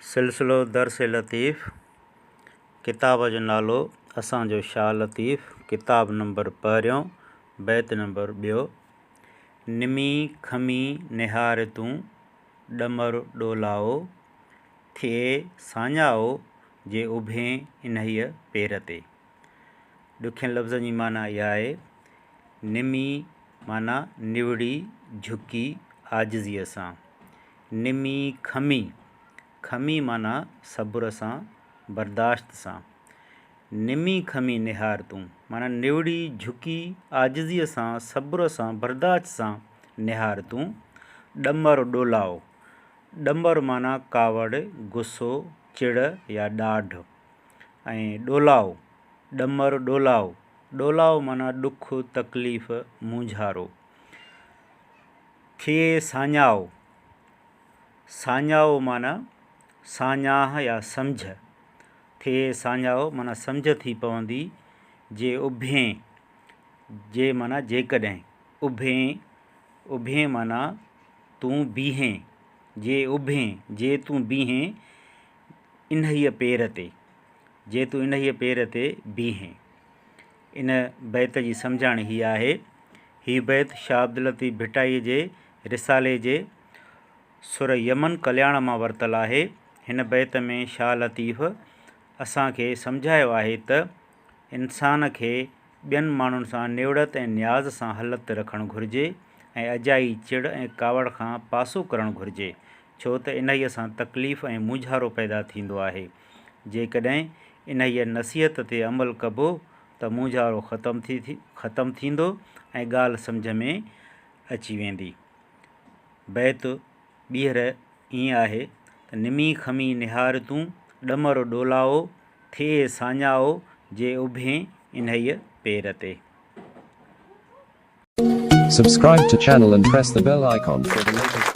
سلسلو درس لطيف ڪتاب جو نالو اسان جو شاهه لطيف ڪتاب نمبر پهريون بيت نمبر ٻيو نمي کمي نهار تون ڏمر ڏولائو ٿئي ساڃائو جي اڀين انهيء پير تي ڏکين لفظن جي معنيٰ اها آهي نمي معنيٰ نوڙي جهڪي عاجزيء سان نمي کمي، کمي معنيٰ صبر سان، برداشت سان. نمي کمي نهار تون، معنيٰ نوڙي جهڪي عاجزيء سان، صبر سان، برداشت سان نهار تون. ڏمر ڏولائو، ڏمر معنيٰ ڪاوڙ، غصو، چڙ يا ڏاڍ ۽ ڏولائو، ڏمر ڏولائو، ڏولائو معنيٰ ڏک، تڪليف، مونجهارو. کي ساڃاهه، ساڃاهه معنيٰ ساڃاهه يا سمجهه، کي ساڃاهه معنيٰ سمجهه ٿي پوندي، جي اڀين، جي معنيٰ جيڪڏهن، اڀين، اڀين معنيٰ تون بيهين، جي اڀين، جي تون بيهين، انهيء پير تي، جي تون انهيء پير تي بيهين ان بيت جي سمجهاڻي هيء آهي. هي بيت شاهه عبداللطيف ڀٽائيء جي رسالي جي سر يمن ڪلياڻ مان ورتل آهي. هن بيت ۾ شاهه لطيف اسان کي سمجهايو آهي ته انسان کي ٻين ماڻهن سان نيوڙت ۽ نياز سان هلت رکڻ گهرجي ۽ اجائي چڙ ۽ ڪاوڙ کان پاسو ڪرڻ گهرجي، ڇو ته انهيء سان تڪليف ۽ مونجهارو پيدا ٿيندو آهي. جيڪڏهن انهيء نصيحت تي عمل ڪبو ته مونجهارو ختم ٿيندو ۽ ڳالهه سمجهه ۾ اچي ويندي. بيت ٻيهر ائين آهي ته، نمي خمي نهار تون، ڏمر ڏولائو، ٿئي ساڃائو، جي اڀين انهيء پير تي. Subscribe to channel and press the bell icon for the latest